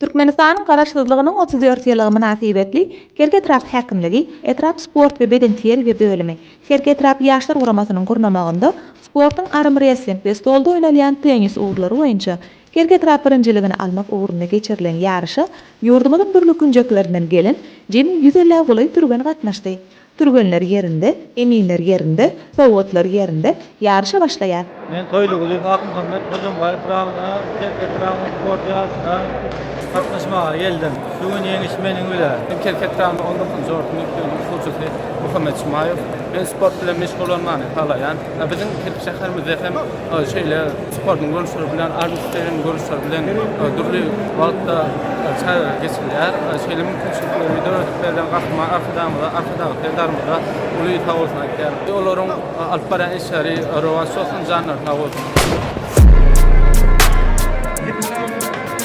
Türkmenistanyň Garaşsyzlygynyň otuz dört ýyllygy mynasybetli Kerki etrap häkimligi etrap sport we bedenterbiýe bölümi, Kerki etrap Ýaşlar guramasynyň gurnamagynda sportuň armrestling we stolda oýnalýan tennis ugurlary boýunça Kerki etrap birinjiligini almak ugrunda geçirilen ýaryşa ýurdumyzyň dürli künjeklerinden gelen jemi ýüz ellägulaý türgen gatnaşdy. Türgenler ýerinde, eminler ýerinde, sowgatlar ýerinde, ýaryşa başlaýar! Men Toýly Gulyýew Akmuhammet Hojambaýew Pyragyna Kerkez Pyragynyň sport ýaryşyna gatnaşmaga geldim. Şu gün ýeňiş meniň bilen! Men Kerkez Pyragynyň on dokuzynjy orta mekdebiniň okuwçysy Muhammet Jumaýew. Men sport bilen meşgullanmany halaýan. Biziň Kerki şäherimizde hem şeýle sportuň görnüşleri bilen, armstreýligiň görnüşleri bilen dürli wagtda çäreler geçirilýär. Şeýle mümkinçilikleri döredip berlen Gahryman Arkadagymyza, Arkadag Serdarymyza uly sag bolsun aýdýarys. Olaryň alyp barýan işleri rowaç bolsun, janlary sag bolsun!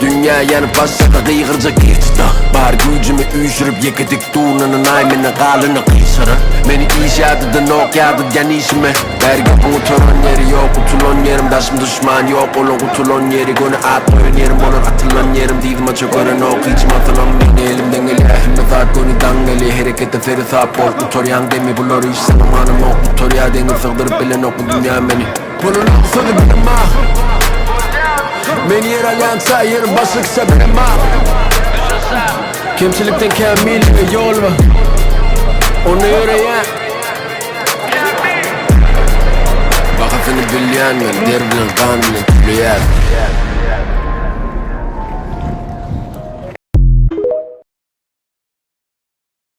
Dünya yanyp başlasa gygyryja gir tuta Bar güýjümi üýşürip ýeke dik durnanan aý meni galyna gyşara Meni iş ýadydanok ýadydýan işime Bergi gutaran ýeri ýok utulan ýerim Daşym duşman ýok ola gutulan ýeri Göni at goýan ýerim bolar atylan ýerim Dyzyma çökerenok hiç masalam meni Elimden gelýär hemme zat göni daň eli Herekete seresap bol gutarýaň demi Bular iş sana manamok gutarýar deňiz Sygdyryp bilenok bu dünya meni. Bolalaň sözi bilima Men ýer alýança ýerim başlykça bilima Kemçilikden kämillige ýol bar Onda ýöreýän Bahasyny bilýän men der bilen gan bilen töleýär